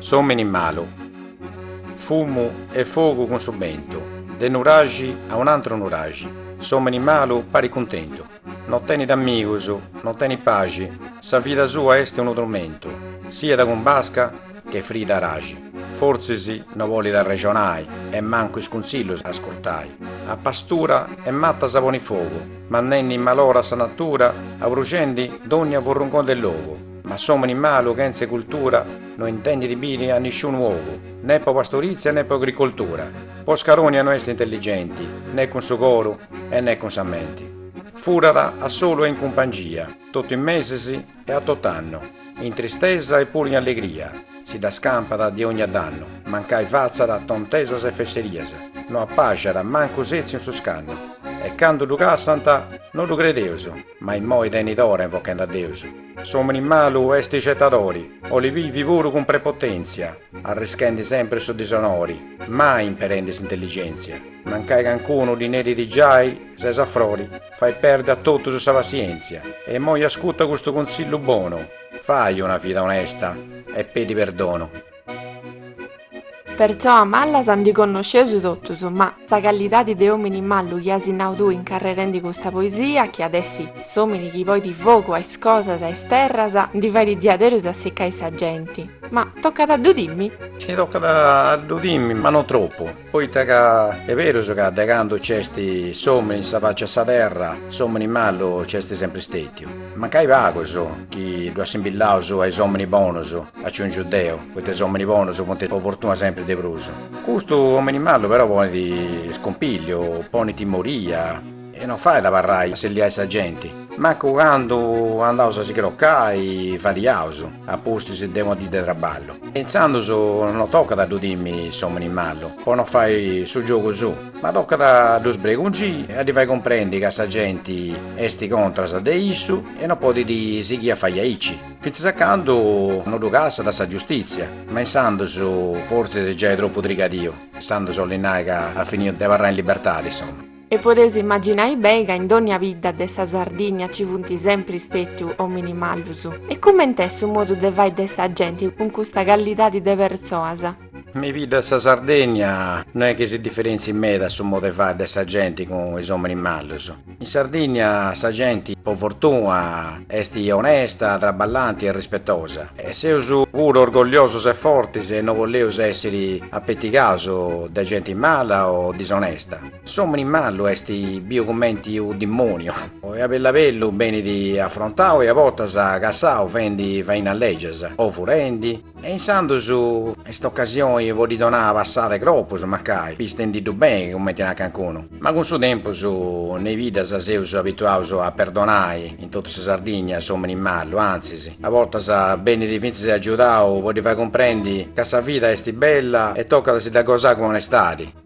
S'omini malu. Fumu e fogu cun su bentu, de nuraxi a un'antru nuraxi, s'omini malu parit cuntentu, no tenit amigus, no tenit paxi, sa vida sua est unu turmentu, siat cun basca, che frida araxi, fortzis no bolit arrexonai e mancu is cuntzillus ascurtai, a pastura e matas a poni fogu, mandendi in malora sa natura abruxendi dònnia furrungoni de logu, ma s'òmini malu chentze cultura no intendit biri a nisciunu ogu, ne po pastorizia ne po agricoltura, po scarònnia no est intelligenti ne cun su coru e ne cun sa menti, furat a solu e in cumpangia, totu in mesis E a tot'annu, in tristesa e puru in allegria, si dda scampat de ònnia dannu, mancai fatzat tontesas e fesserias, no apàxiat mancu setziu in su scannu, e candu ddu cassant, no ddu credeus, ma immoi tenit ora invochend'a Deus. S'omini malu est cetadori, 'olit bivi puru cun prepotenzia, arrischendi sempri su disonori, mai imperendi s'intelligenzia, mancai cancunu ddi nerit giai ses a frori, Fai perdi a totus sa passièntzia e immoi ascuta custu cuntzillu bonu, fai una vida onesta e pedi perdonu. Pertzoas mallas ndi connosceus totus, ma sa callidadi de òmini mallu chi as nau tui incarrerendi custa poesia, chi at essi s'òmini chi poit fogu a is cosas, a is terras, ndi fait diaderus assicai sa genti. Ma tocat a ddu timmi? E tocat a ddu timmi, ma no tropu. Poita ca est berus ca de candu nc'est s'omini in sa faci 'e sa terra, s'omini mallu nc'est sempri stètiu. Mancai pagus chi ddu assimbillaus a is omini bonus, aciungiu deu, poita is omini bonus funt po fortuna sempri de prus. Custu omini mallu però ponit iscompigliu, ponit timoria. E non fait abarrai asselliai sa genti. Mancu candu andaus a si crocai fadiaus a pustis de una dì de traballu. E intzandus no tocat a ddu timmi s'òmini mallu po no fai su giogu suu, ma tocat a ddu sbregungii e a ddi fai cumprendi ca sa genti est contras de issu e no podit sighii a fai aici, fintzas a candu no ddu cassat sa giustìtzia, ma insandus fortzis giai tropu trigadìu, insandus 'olit nai ca at finiu de abarrai in libertadi, insoma. E podeus imaginai beni ca in dònnia bidda de sa Sardìnnia ci funt sempri stètius òminis mallus. E cumenti est su modu de fai de sa genti cun custa callidadi de pertzoas? Me is biddas de sa Sardènnia no est chi si diferentzit meda su modu de fai de sa genti cun is òminis mallus. In Sardìnnia sa genti, po fortuna, est onesta, traballanti e rispetosa. E seus puru orgogliosus e fortis e no bolleus èssiri apetigaus de genti mala o disonesta. S'omini mallu est biu cumenti u dimoniu. E a bellabellu benit afrontau e a bortas cassau fendi fainas legias o furendi. E insandus est ocasioni po ddi donai passada e cropus mancai pistendi ddu beni cumenti narat cancunu. Ma cun su tempus nei biddas seus abituaus a perdonai in totu sa Sardigna s'omini mallu, antzis a bortas benit fintzis agiudau po ddi fai cumprendi ca sa vida est bella e tocat a si dda gosai cun onestadi.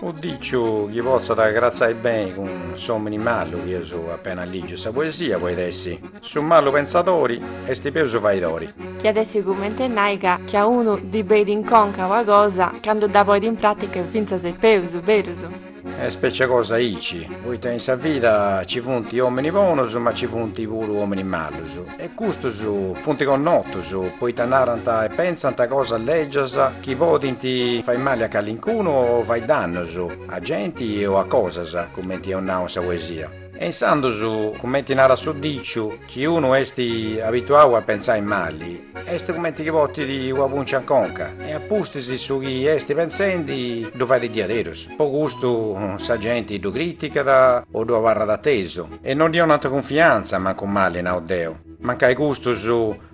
Unu diciu chi potzat agratzai beni cun s'omini mallu chi eus apena ligiu sa poesia poit essi, su mallu pentzadori esti peus faidori. Chi iat essi cumenti e nai ca chi a unu ddi beit in conca ua cosa, candu dda poit in pratica est fintzas e peus berus. Est specia cosa aici, poita in sa vida ci funt omini bonus ma ci funt puru omini mallus. E custus funt connotus poita narant e pentzant cosas lègias chi podint fai mali a calincunu o fai dannus a genti o a cosas, cumenti eus nau in sa poesia. E insandus, cumenti narat su diciu, chi unu est abituau a pentzai mali, est cumenti chi portit una pùncia in conca e a pustis su chi est pentzendi ddu fait diaderus. Po custu sa genti ddu crìticat o ddu abarrat atesu. E non ddi onant cunfiantza mancu mali nau deu. Mancai custus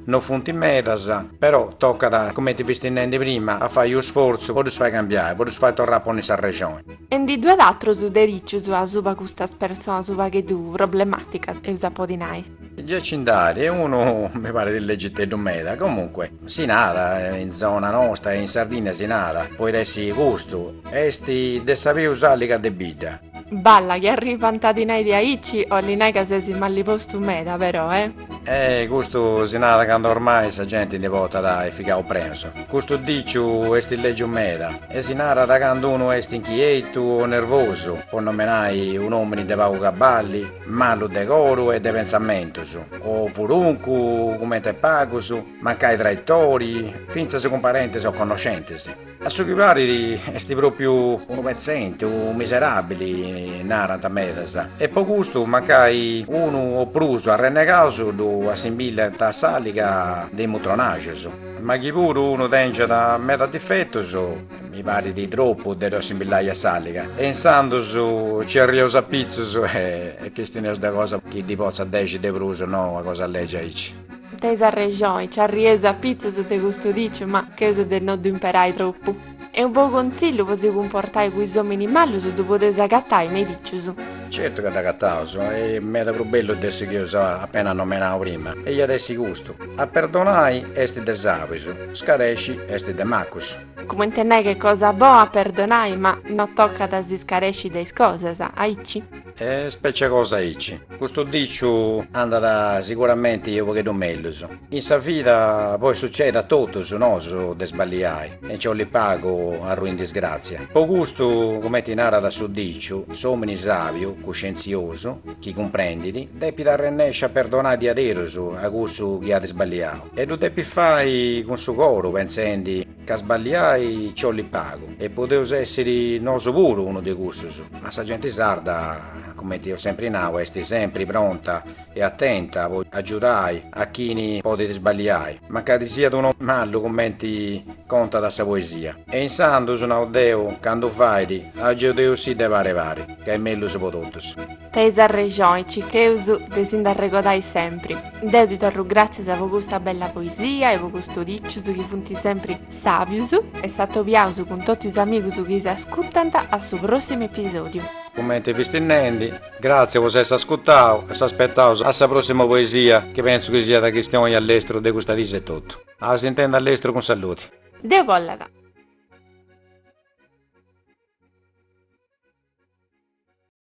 no funt medas, però tocat, cumenti fisti nendi prima, a fai unu sfortzu po ddus fai cambiai, po ddus fai torrai a ponni sa rexoni. E ndi ddu at atrus de dicius asuba custas personas u pagheddu problematicas, eus a podi nai. Gei ci nd'at, e unu mi parit legiteddu meda, comunque, si nada, in zona nosta e in Sardigna si nada, poit essi custu, est de sa peus alliga de bidda. Balla chi arrivant a ti nai diaici olit nai ca ses malli postu meda però eh. E custu si narat candu ormai sa genti ndi portat i figaus prenus. Custu diciu esti legiu meda e si narat candu unu esti inchietu o nervosu, po nomenai un'omini de pagu cabballi, mallu de coru e de pentzamentus, o furuncu, cumenti e pagus, mancai traitori, fintzas cun parentis o connoscentis. A su chi parit est pròpiu unu petzenti, u miseràbili, narant medas, e po custu mancai unu o prus arrennegaus ddu assimbillant a s'àliga de i mutronajos. Ma chi puru unu tèngiat medas difetus, mi parit tropu de ddu assimbillai a s'àliga, e insandus nci arriaus a pitzus e chistioneus de cosa chi ddi potzat dèxiri de prus, no una cosa lègia aici. Teis arrexoni, nci arrieus apitzus de custu diciu, ma cheus de no ddu imperai tropu. E unu bou contzillu po si cumportai cun is omini mallus ddu podeus agatai, me is dicius. Certu ca dd'agataus, e meda prus bellu de su chi eus apena nomenau prima, e iat essi custu, a perdonai est de sabis, scaresci est de macus. Cumenti nai ca est cosa boa a perdonai, ma no tocat a si scaresci de is cosas, aici. E specie cosa aici. Custu diciu andat siguramenti unu pogheddu mellus. In sa vida poi sucedit a totus nosu de sballiai e nci 'olit pagu a arrui in disgrazia. Po custu, cumenti narat su diciu, s'omini sabiu, cuscienziosu, chi cumprendit, depit arrennesci a perdonai diaderus a cussu chi at sballiau e ddu depit fai cun su coru pentzendi, Ca sballiai nci 'olit pagu, e podeus essiri nosu puru unu de cussus, ma sa genti sarda, cumenti eus sempri nau, est sempri pronta e atenta po agiudai a chini podit sballiai, mancari siat unu mallu cumenti contat sa poesia. E insandus, nau deu, candu fait, agiudeusì de pari pari, ca est mellus po totus. Teis arrexoi cicheus de si nd'arregodai sempri. Deu ti torru gràtzias po custa bella poesia e po custus dicius chi funt sempri sàbius e s'atobiaus cun totu is amigus chi s'ascutant a su pròssimu episòdiu. Cumenti fisti nendi, gràtzias po s'essi ascutau e s'aspetaus a sa pròssima poesia chi pentzu chi siat chistioni a lestru de custas dis etotu. A s'intendi a lestru cun saludi. Deu bollat.